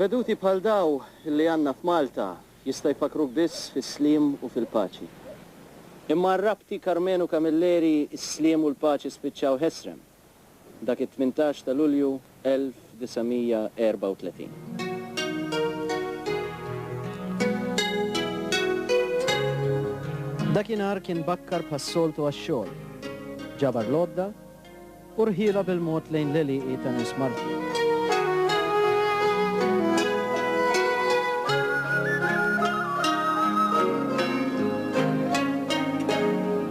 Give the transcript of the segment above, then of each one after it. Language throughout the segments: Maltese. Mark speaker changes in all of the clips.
Speaker 1: Veduti bħal daw li għandna f'Malta jista' jfakkruk biss fis-sliem u fil-paċi. Imma għar-rabti Karmenu Camilleri s-sliem u l-paċi spiċċaw ħesrem dak it-tmintax ta' Lulju 1934. Dakinhar kien bakkar bħas-soltu għax-xogħol. Ġabar l-għodda u rħielha bil-mod lejn l-għelieqi ta' nies martli.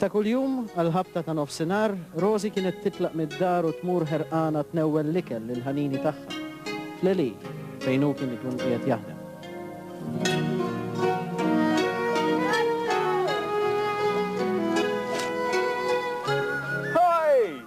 Speaker 1: Ta' kuljum, għall-ħabta ta' nofsinhar, Rosie kienet titlaq mid-dar u tmur ħerqana tnewwel l-ikel lill-ħanini tagħha, fl-għelieq, fejn hu kien ikun qiegħed jaħdem. Hi!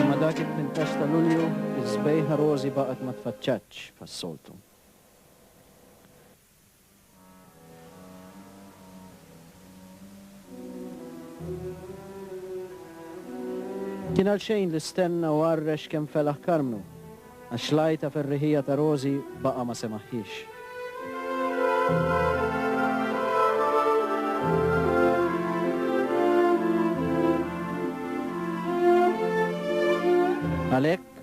Speaker 1: Imma dak it-tmintax ta' Lulju, is-sbejħa rożi baqgħet ma tfaċċatx bħas-soltu. Kien għalxejn li stenna u għarrex kemm felaħ Karmnu, għax l-għajta ferriħija ta' Rożi baqa' ma semagħhiex. Għalhekk,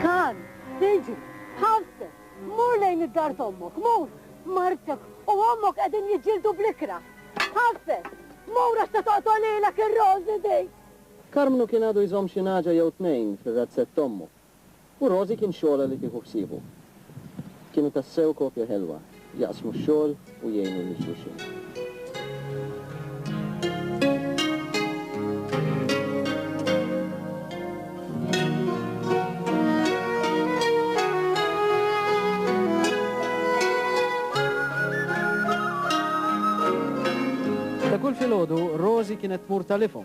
Speaker 1: Kan, siġu, ħafseb, mur lejn id-dar t'ommok, mur! Martek u ommok qegħdin jiġġieldu bl-ikrah. Ħafes, mur għax se toqtol lilek ir-Rożi dik! Karmnu kien għadu jżomm xi nagħġa jew tnejn fir-razzett t'ommu. U Rosie kien xogħolha li tieħu ħsiebu. Kienu tassew koppja ħelwa, jaqsmu x-xogħol u jgħinu lil xulxin. Ta' kull filgħodu, Rosie kienet tmur ta' l-ifhom.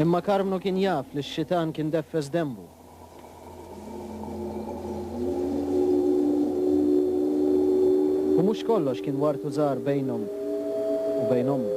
Speaker 1: Imma Karmnu kien jaf li x-xitan kien deffes denbu. U mhux kollox kien wart u żgħar bejnhom u bejn ommu.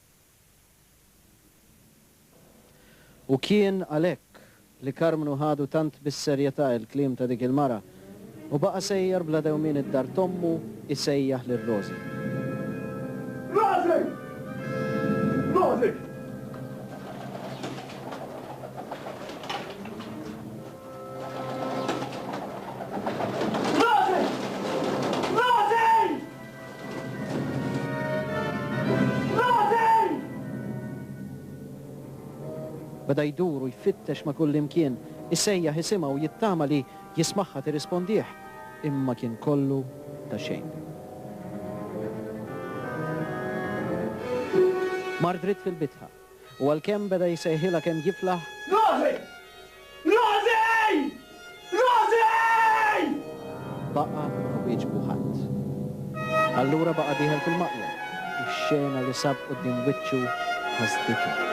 Speaker 1: U kien għalhekk li Karmnu ħadu tant bis-serjetà l-kliem ta' dik il-mara u baqa' sejjer bla dewmien id-dar t'ommu jsejjaħ lil Rożi. Rożi! Rożi! Rożi! Rożi! Beda jdur u jfittex ma' kullimkien, isejjaħ isimha u jittama li jismagħha tirrispondih, imma kien kollu ta' xejn. Mar dritt fil-bitħa. U għalkemm beda jsejħilha kemm jiflaħ. Rosy! Rosy! Rosy! Baqa' ma wieġbu ħadd. Allura baqa' dieħel fil-maqja u x-xena li sab quddiem wiċċu ħasditu.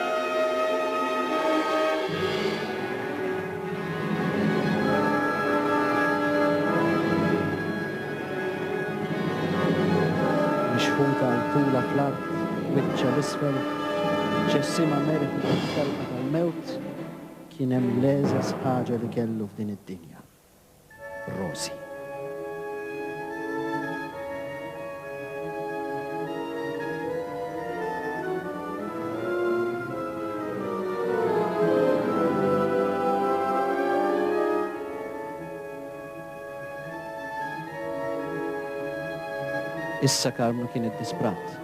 Speaker 1: Mixħuta għal tula fl-art, wiċċha 'l isfel, ġessimha merħi fit-telqa tal-mewt, kien hemm l-egħżeż ħaġa li kellu f'din id-dinja, Rosie. Issa Karmnu kien iddisprat.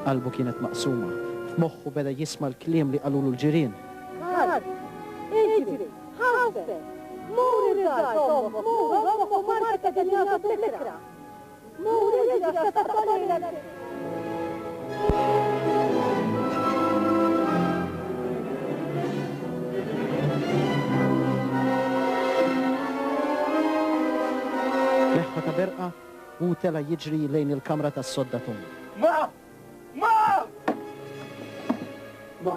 Speaker 1: Qalbu kienet maqsuma. F'moħħu beda jisma' l-kliem li qalulu l-ġirien. Karmnu! Iġri! Ħaffef! Mur ir-dar t'ommok, mur, ommok u martek qegħdin jagħtu t-titra! Leħħa ta' berqa u tela' jiġri lejn il-kamra tas-sodda Tom. Ma! Ma! Ma!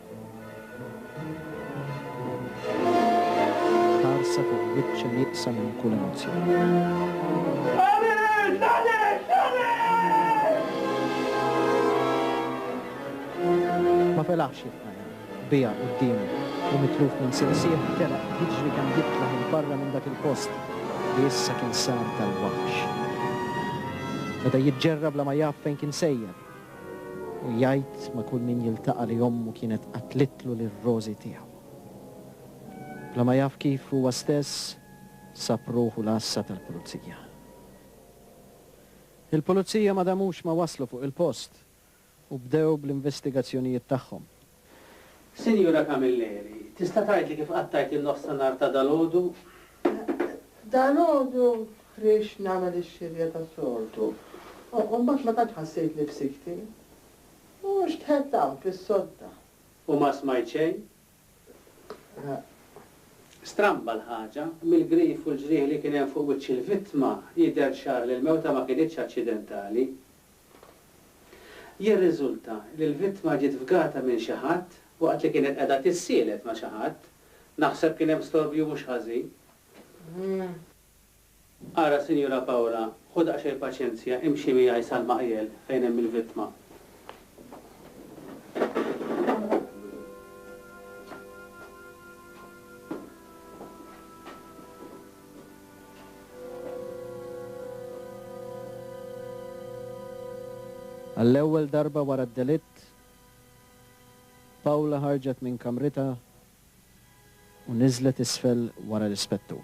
Speaker 1: Ħarsa fuq wiċċha nieqsa minn kull emozzjoni. Ma felaħx jitqajjem. Biha quddiemu u mitluf minn sinsieħ telaq jiġri kemm jitla' 'il barra minn dak il-post li issa kien sar tal-waħx. Beda jiġġerra bla ma jaf fejn kien sejjer. U jgħid ma' kull min jiltaqa' li ommu kienet qatlitlu lir-rożi tiegħu. Bla ma jaf kif huwa stess sab ruħu l-għassa tal-Pulizija. Il-Pulizija ma damux ma waslu fuq il-post u bdew bl-investigazzjonijiet tagħhom. Sinjura Camilleri, tista' tgħidli kif qattajt in-nofsinhar ta' dalgħodu? Dalgħodu ħriġt nagħmel ix-xirja tas-soltu u mbagħad ma tantx ħassejt li fsikti. U xtħett hawn fis-sodda. U ma smajt xejn? Le. Stramba l-ħaġa, mill-grif u l-ġrieħi li kien hemm fuq wiċċ il-vittma, jidher ċar li l-mewta ma kinitx aċċidentali. Jirriżulta li l-vittma ġiet fgata minn xi ħadd waqt li kienet qiegħda tissielet ma' xi ħadd. Naħseb kien hemm storbju mhux ħażin. Ara Sinjura Paola, ħu daqsxejn paċenzja, imxi miegħi sal-maqjel fejn hemm il-vittma. Għall-ewwel darba wara d-delitt, Paula ħarġet minn kamritha u niżlet isfel wara l-Ispettur.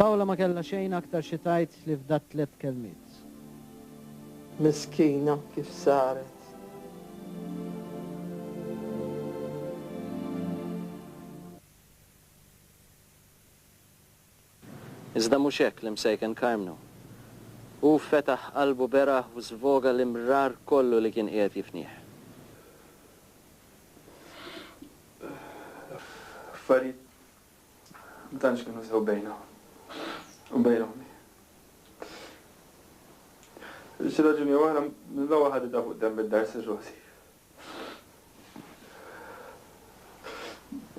Speaker 1: Paola ma kellha xejn aktar xi tgħid li fdat tliet kelmiet. Miskina kif saret. Iżda mhux hekk l-imsejken Karmnu. Hu fetaħ qalbu beraħ u żvoga l-imrar kollu li kien qiegħed jifnih. L-affarijiet ma tantx kienu sew bejna u bejn ommi. Għal xi raġuni jew oħra, Lowell ħaditha fuq demm id-dar Sir Rosie.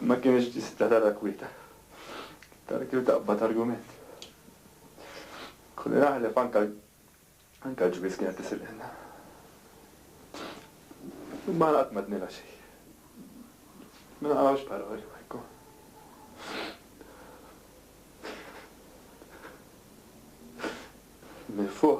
Speaker 1: Ma kienx tista' tara kwieta. Tara kif taqbad argument. Kolli naħlef anke anke l-ġwież kienet tisililna. Imma aħna qatt m'għednilha xejn. Ma naqgħux paroli ma jkun. Mil-fuq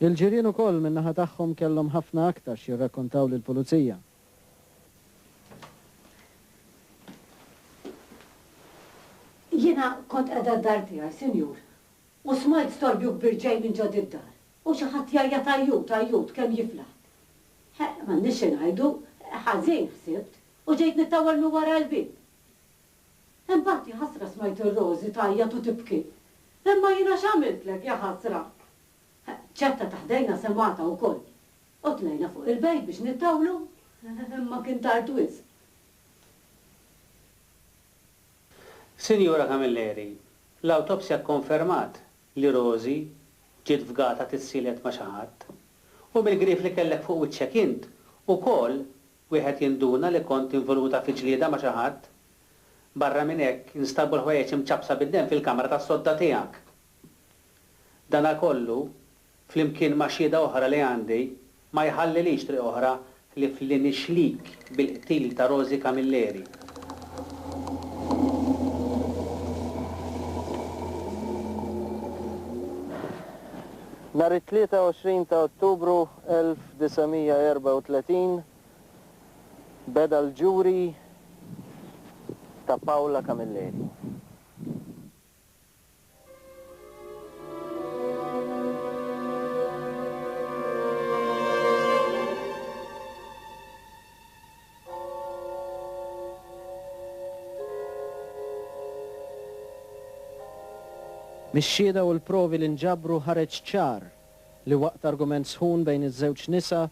Speaker 1: Il-ġirien ukoll min-naħa tagħhom kellhom ħafna aktar x'jirrakkontaw lill-Pulizija. Jiena kont qiegħda d-dar tiegħi, Sinjur, u smajt storbju kbir ġej minn ġo d-dar, u xi ħadd jgħajjat għajjut, għajjut, kemm jiflaħ. Ħa, m'għandniex xi ngħidu, ħażin, ħsibt, u ġejt nittawwal minn wara l-bieb. Imbagħad, jaħasra smajt ir-Rożi tgħajjat u tibki. Imma jiena x'għamiltlek, jaħasra? Ċetta ta' ħdejna semgħatha wkoll. U tlajna fuq il-bejt biex nittawlu, imma kien tard wisq. Sinjura Camilleri, l-awtopsja kkonfermat li Rożi ġiet fgata tissielet ma' xi ħadd. U mill-grief li kellek fuq wiċċek int, ukoll wieħed jinduna li kont involuta fi ġlieda ma' xi ħadd. Barra minn hekk, instabu l-ħwejjeġ imċappsa bid-demm fil-kamra tas-sodda tiegħek. Danakollu, flimkien ma' xhieda oħra li għandi, ma jħallilix triq oħra ħlief li nixlik bil-qtil ta' Rosy Camilleri. Nhar it-23 ta' Ottubru 1900, 1934 beda l-ġuri ta' Paola Camilleri. Mix-xhieda u l-provi li nġabru ħareġ ċar li waqt argument sħun bejn iż-żewġ nisa,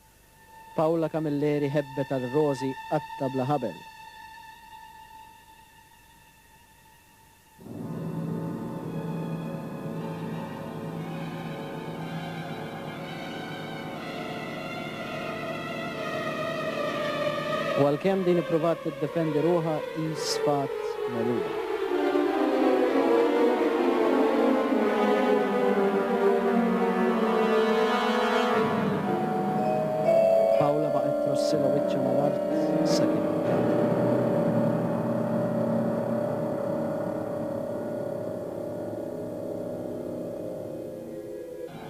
Speaker 1: Paula Camilleri hebbet għal Rosy qatta bla ħabel. U għalkemm din ippruvat tiddefendi ruħha hi sfat megħluba. Paula baqgħet trossila wiċċha mal-art sakemm intemmet.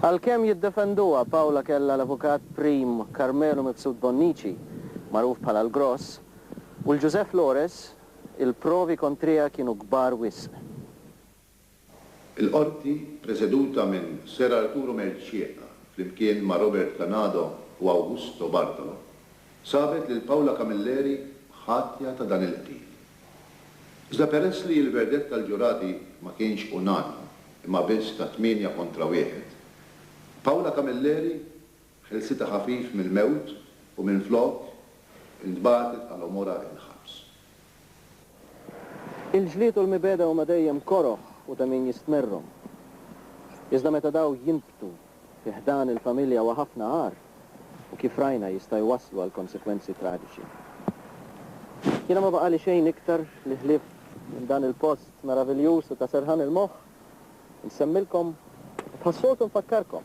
Speaker 1: Għalkemm jiddefenduha, Paula kellha l-avukat prim Carmelo Mifsud Bonnici, magħruf bħala l-Gross, u 'l José Flores, il-provi kontriha kienu kbar wisq. Il-Qorti, preseduta minn Ser Arturo Mercieca flimkien ma' Robert Canado u Augusto Bartolo, sabet lil Paula Camilleri ħatja ta' dan il-qtil. Iżda peress li l-verdett tal-ġurati ma kienx unanimu imma biss ta' tmienja kontra wieħed, Paula Camilleri ħelsitha ħafif mill-mewt u minflok intbagħtet għal għomorha il-ħabs. Il-ġlied u l-mibegħda huma dejjem koroh u ta' min jistmerrhom. Iżda meta dawn jinbtu fi ħdan il-familja huwa ħafna agħar u kif rajna jista' jwasslu għal konsegwenzi traġiċi. Jiena ma baqgħali xejn iktar li ħlief minn dan il-post meraviljuż u ta' serħan il-moħħ insemmilkom u bħas-soltu nfakkarkom.